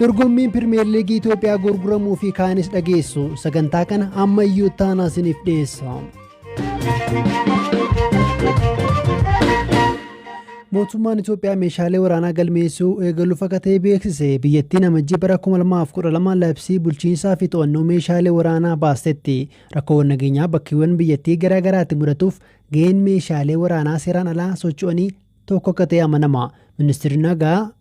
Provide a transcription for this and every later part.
Dorgommiin Pirimeer Liigii Itoophiyaa gurguramuu fi kaanis dhageessu sagantaa kana amma iyyuu taanaa isiniif dhiyeessa. Mootummaan Itoophiyaa meeshaalee waraanaa galmeessuu eegaluu fakatee beeksise biyyattiin amajjii bara 2012 labsii bulchiinsaa fi to'annoo meeshaalee waraanaa baastetti rakkoowwan nageenyaa bakkeewwan biyyattii garaa garaatti mudatuuf ga'een meeshaalee waraanaa seeraan alaa socho'anii tokko akka ta'e amanama. Ministeerri nagaa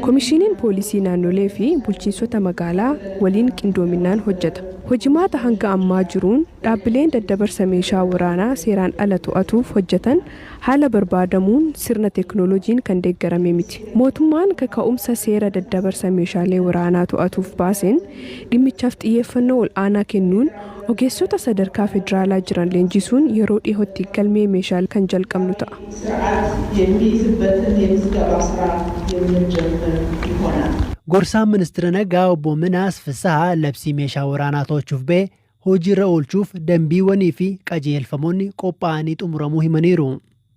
Komishiiniin Poolisii Naannolee fi Bulchiinsota Magaalaa waliin qindoominaan hojjeta. Hojimaata hanga ammaa jiruun dhaabbileen daddabarsa meeshaa waraanaa seeraan ala to'atuuf hojjetan haala barbaadamuun sirna teeknooloojiin kan deeggarame miti. Mootummaan kaka'umsa seera daddabarsa meeshaalee waraanaa to'atuuf baaseen dhimmichaaf xiyyeeffannoo ol'aanaa kennuun Ogeessota sadarkaa federaalaa jiran leenjisuun yeroo dhihootti galmee meeshaalee kan jalqabnu ta'a. Gorsaan Ministira Nagaa Obbo Minaas Fissahaa labsii meeshaa waraanaa to'achuuf ba'e hojiirra oolchuuf danbiiwwanii fi qajeelfamoonni qophaa'anii xumuramuu himaniiru.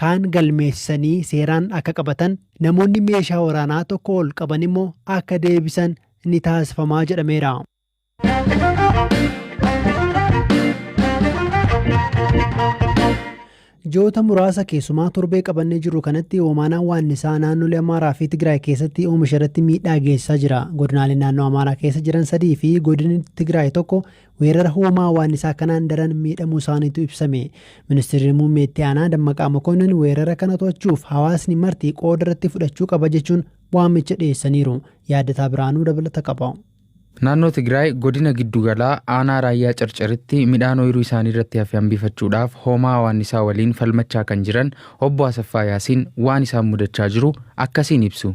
kaan galmeessisanii seeraan akka qabatan, namoonni meeshaa waraanaa tokkoo ol qaban immoo akka deebisan ni taasifamaa jedhameera. Ji'oota muraasa keessumaa torbee qabannee jirru kanatti hoomaanaan waannisaa naannolee Amaaraa fi Tigraay keessatti oomisha irratti miidhaa geessisaa jira. Godinaaleen naannoo Amaaraa keessa jiran sadii fi godinni Tigraay tokko Weerara hoomaa hawaannisaa kanaan daran miidhamuu isaaniitu ibsame. Ministirri Muummee Itti Aanaa Dammaqaa Mokonnin weerara kana to'achuuf hawaasni marti qooda irratti fudhachuu qaba jechuun waamicha dhiyeessaniiru. Yaaddataa Birhaanuu dabalata qaba. Naannoo Tigraay godina giddu galaa aanaa Raayyaa Carcaritti midhaan ooyiruu isaanii irratti hafe hambifachuudhaaf hoomaa hawaannisaa waliin falmachaa kan jiran Obbo Asaffaa Yaasiin waan isaan mudachaa jiru akkasiin ibsu.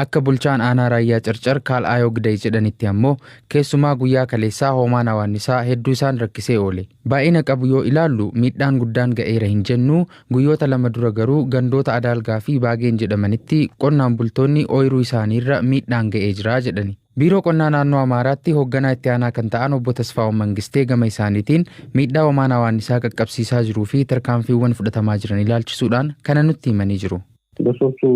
Akka bulchaan aanaa Raayyaa Carcar Kaal Aayoo Giday jedhanitti ammoo keessumaa guyyaa kaleessaa hoomaan awaannisaa hedduu isaan rakkisee oole. Baay'ina qabu yoo ilaallu miidhaan guddaan ga'eera hin jennu, guyyoota lama dura garuu gandoota Adaalgaa fi Baageen jedhamanitti qonnaan bultoonni ooyiruu isaaniirra miidhaan ga'ee jira jedhani. Biiroo Qonnaa Naannoo Amaaraatti hoogganaa itti aanaa kan ta'an obbo Tasfaa'oon Mangistee gama isaaniitiin miidhaa hoomaan awaannisaa qaqqabsiisaa jiruu fi tarkaanfiiwwan fudhatamaa jiran ilaalchisuudhaan kana nutti himanii jiru. Gosoota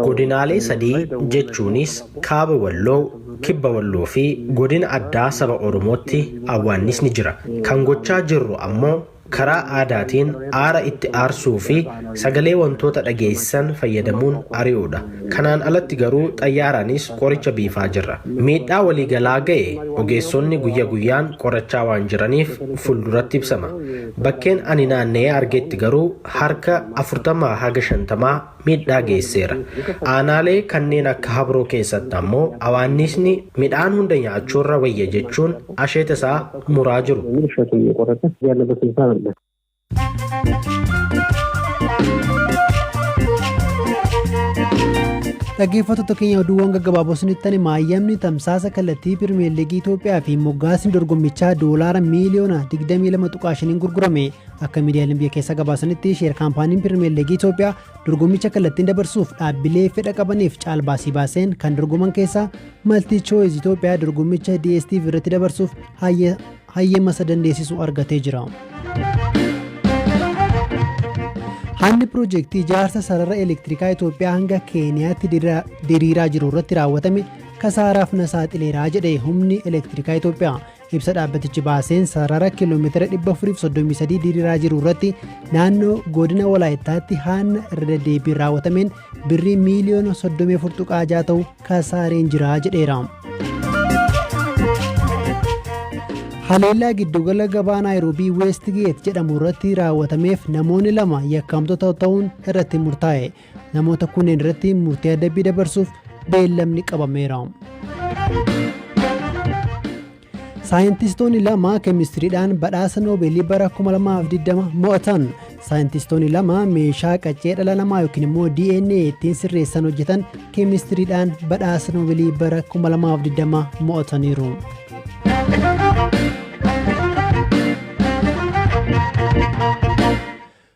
Godinaalee sadii jechuunis Kaaba Walloo, Kibba Walloo fi Godina Addaa Saba Oromootti awwaannisni jira. Kan gochaa jirru ammoo karaa aadaatiin aara itti aarsuu fi sagalee wantoota dhageessisan fayyadamuun ari'uudha. Kanaan alatti garuu xayyaaraanis qoricha biifaa jirra. Miidhaa waliigalaa ga'e ogeessonni guyya guyyaan qorachaa waan jiraniif fulduratti ibsama. Bakkeen ani naanna'ee argetti garuu harka 40-50 miidhaa geesseera. Aanaalee kanneen akka Habroo keessatti ammoo awaanniisni midhaan hunda nyaachuurra wayya jechuun asheeta isaa muraa jiru. Dhaggeeffattoota keenya oduuwwan gaggabaaboo isinitti hime maayyamni tamsaasa kallattii pirimeer liigii Itoophiyaa fi moggaasni dorgommichaa doolaara miiliyoona 22.5 gurgurame Akka miidiyaaleen biyya keessaa gabaasanitti sheer kaampaaniin Pirimeer Liigii Itoophiyaa dorgommicha kallattiin dabarsuuf dhaabbilee fedha qabaniif caalbaasii baaseen kan dorgoman keessaa Maltii Chooyiz Itoophiyaa dorgommicha DSTV irratti dabarsuuf hayyama isa dandeessisu argatee jira. Haalli piroojeektii ijaarsa sarara elektirikaa Itoophiyaa hanga Keeniyaatti diriiraa jiru irratti raawwatame kasaaraaf na saaxileeraa jedhe humni elektirikaa Itoophiyaa. Ibsa dhaabbatichi baaseen sarara kiiloomeetira 433 diriiraa jiru irratti naannoo godina Walaayittaatti haanna irra deddeebiin raawwatameen birrii miiliyoona 34.6 ta'u kasaareen jira jedheera. Haleellaa giddugala gabaa Naayiroobii Weestgeet jedhamu irratti raawwatameef namoonni lama yakkamtoota ta'uun irratti murtaa'e. Namoota kunneen irratti murtee adabbii dabarsuuf beellamni qabameera. Saayintistoonni lama keemistiriidhaan badhaasa noobeelii bara 2020 mo'atan. Saayintistoonni lama meeshaa qaccee dhala namaa yookiin immoo DNA ittiin sirreessan hojjetan keemistiriidhaan badhaasa noobeelii bara 2020 mo'ataniiru.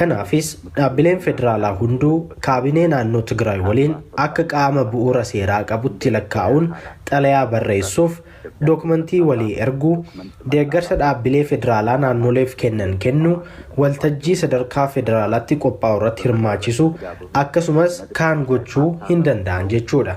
Kanaafis dhaabbileen federaalaa hunduu kaabinee naannoo Tigraay waliin akka qaama bu'uura seeraa qabutti lakkaa'uun xalayaa barreessuuf, dookmantii walii erguu, deeggarsa dhaabbilee federaalaa naannoleef kennan kennuu, waltajjii sadarkaa federaalaatti qophaa'urratti hirmaachisuu akkasumas kaan gochuu hindanda'an jechuudha.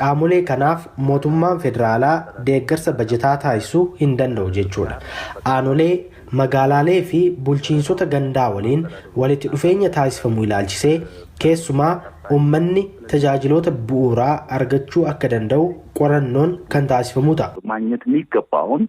Qaamolee kanaaf mootummaan federaalaa deeggarsa bajetaa taasisu hin danda'u jechuudha. Aanolee, magaalaalee fi bulchiinsota gandaa waliin walitti dhufeenya taasifamu ilaalchisee keessumaa ummanni tajaajiloota bu'uuraa argachuu akka danda'u qorannoon kan taasifamuu ta'a. Maagnet miiggabbaahuun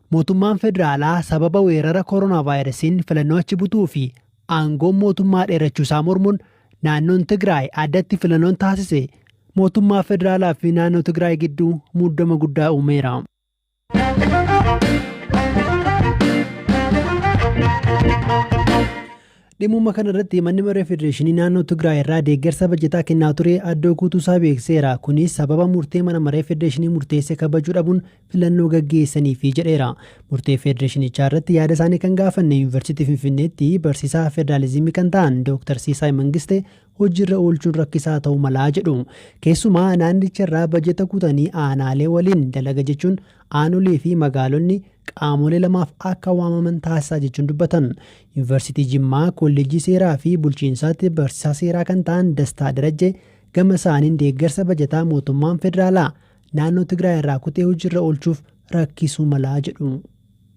Mootummaan federaalaa sababa weerara koronaavaayirasiin filannoo achi butuu fi aangoon mootummaa dheerachuu isaa mormuun naannoon Tigraay addatti filannoon taasise mootummaa federaalaa fi naannoo Tigraay gidduu muddama guddaa uumeera. Dhimma kana irratti manni maree federeeshinii naannoo Tigraay irraa deeggarsa bajataa kennaa ture addoo guutuu isaa beekseera. Kunis sababa murtee mana maree federeeshinii murteesse kabajuu dhabuun filannoo gaggeessaniifi jedheera. Murtee federeeshinichaa irratti yaada isaanii kan gaafanne Yuunivarsiitii Finfinneetti barsiisaa federaalizimii kan ta'an Dooktar Siisaay Mangiste hojiirra oolchuun rakkisaa ta'uu malaa jedhu. Keessumaa naannicha irraa bajeta kutanii aanaalee waliin dalaga jechuun aanolee fi magaalonni qaamolee lamaaf akka waamaman taasisaa jechuun dubbatan. Yuunivarsiitii Jimmaa kolleejjii seeraa fi bulchiinsaatti barsiisaa seeraa kan ta'an Dastaa Darajjee gama isaaniin deeggarsa bajataa mootummaan federaalaa naannoo Tigraay irraa kutee hojiirra oolchuuf rakkisuu mala jedhu.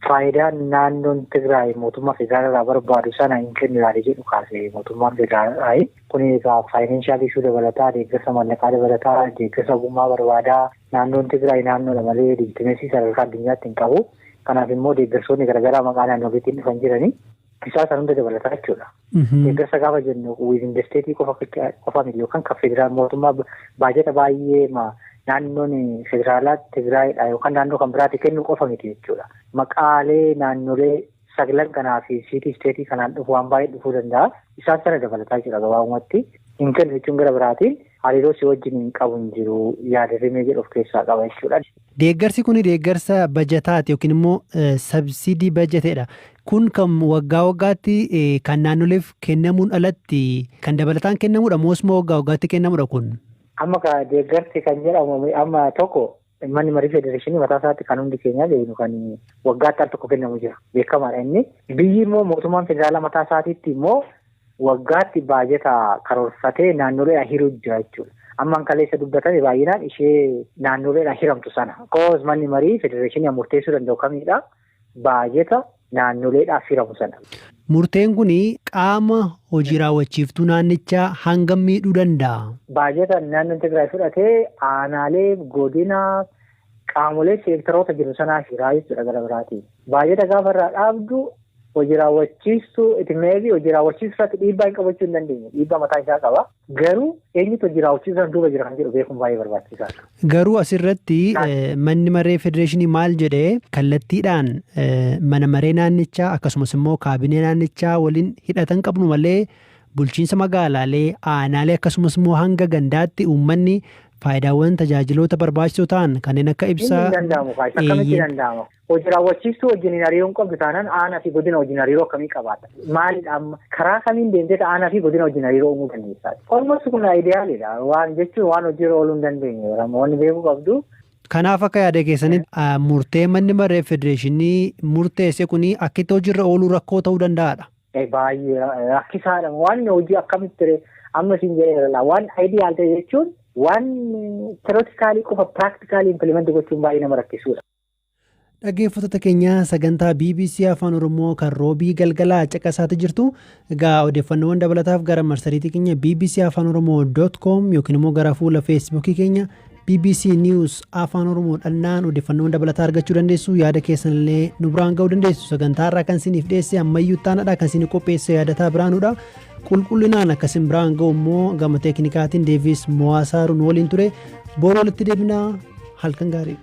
Faayidaan naannoon Tigraay mootummaa federaalaa irraa barbaadu sana hin kennu yaada jedhu kaase mootummaan federaalaa. Kun egaa faayinaanshaal ishuu dabalataa, deeggarsa maallaqaa dabalataa, deeggarsa ogummaa barbaadaa. Naannoon Tigraay naannoodha malee leejitimeesii sadarkaa addunyaatti hin qabu. Kanaaf immoo deeggarsoonni garaagaraa maqaa naannoleetiin dhufan jiranii. Isaa kan hunda dabalataa jechuudha. Deeggarsa gaafa jennu wiizin desteetii qofa qofa miti yookaan kan federaal mootummaa baajata baay'ee naannoon federaalaa Tigraayidha yookaan naannoo kan biraatti kennu qofa miti jechuudha. Maqaalee naannolee saglan kanaa fi siitii isteetii kanaan dhufu waan baay'ee dhufuu danda'a. Isaan sana dabalataa jechuudha gabaabumatti. Hin kennu jechuun gara biraatiin Hariiroo si wajjiniin qabu hin jiru yaada rimee jedhu of keessaa qaba jechuudha. Deeggarsi kuni deeggarsa bajataati yookiin immoo sabsiidii bajateedha. Kun kan waggaa waggaatti kan naannoleef kennamuun alatti kan dabalataan kennamuudha moosuma waggaa waggaatti kennamuudha kun? Amma ka deeggarsi kan jedhamu amma tokko Manni marii federeeshinii mataa isaatti kan hundi keenyaa beeknu kan waggaatti al tokko kennamu jira. Beekamaadha inni. Biyyi immoo mootummaan federaalaa mataa isaatiitti immoo waggaatti baajata karoorfatee naannoleedhaan hiruu jira jechuudha. Ammaan kaleessa dubbatame baay'inaan ishee naannoleedhaan hiramtu sana. Koos manni marii federeeshinii murteessuu danda'u kamiidha. baajeta naannoleedhaaf hiramu sana. Murteen kun qaama hojii raawwachiiftuu naannichaa hangam miidhuu danda'a? Baajeta naannoon Tigraay fudhate aanaalee, godina, qaamolee seektaroota jiru sanaa hiraa jechuudha gara biraatiin. Baajeta gaafa irraa dhaabdu hojii raawwachiistuu Itmeevi hojii raawwachiisuu irratti dhiibbaa hin qabachuu hin dandeenye. Dhiibbaa mataa isaa qaba. Garuu eenyutu hojii raawwachiisaan duuba jira kan jedhu beekuun baay'ee barbaachisaadha. Garuu asirratti manni maree federeeshinii maal jedhee kallattiidhaan mana maree naannichaa akkasumas immoo kaabinee naannichaa waliin hidhatan qabnu malee bulchiinsa magaalaalee aanaalee akkasumas immoo hanga gandaatti uummanni faayidaawwan tajaajiloota barbaachisoo ta'an kanneen akka ibsaa. Inni danda'amu kaasa akkamitti danda'ama? Hoji raawwachiistuu wajjin hin hariiroon qabdu taanaan aanaa fi godina wajjin hariiroo akkamii qabaata? Maalidha amma? Karaa kamiin deemtee aanaa fi godina wajjin hariiroo uumuu dandeessaa? Olmost kun ayideyaaliidha. Waan jechuun waan hojiirra ooluu hin dandeenye. Wanni beekuu qabdu. Kanaaf akka yaada keessanitti murtee manni maree federeeshinii murteesse kun akkitti hojiirra ooluu rakkoo ta'uu danda'aadha. Baay'ee rakkisaadha. Waan hojii akkamitti ree amma isin jedheera waan ayideyaal ta'e jechuun waan teerotikaalii qofa piraaktikaalii impilimenti gochuun baay'ee nama rakkisuudha. Dhaggeeffattoota keenya sagantaa BBC Afaan Oromoo kan roobii galgalaa caqasaati jirtu. Egaa odeeffannoowwan dabalataaf gara marsariitii keenya BBC Afaan Oromoo dot com yookiin immoo gara fuula feesbuukii keenya BBC News Afaan Oromoo dhannaan odeeffannoowwan dabalataa argachuu dandeessu. Yaada keessan illee nu biraan ga'uu dandeessu. Sagantaa irraa kan isiniif dhiyeesse ammayyuu taanadha kan isin qopheesse yaadataa biraanudha. Qulqullinaan akka isin biraan ga'u immoo gama teeknikaatiin Deevis Mo'aasaaruu nu waliin ture. Boru walitti deebinaa halkan gaarii.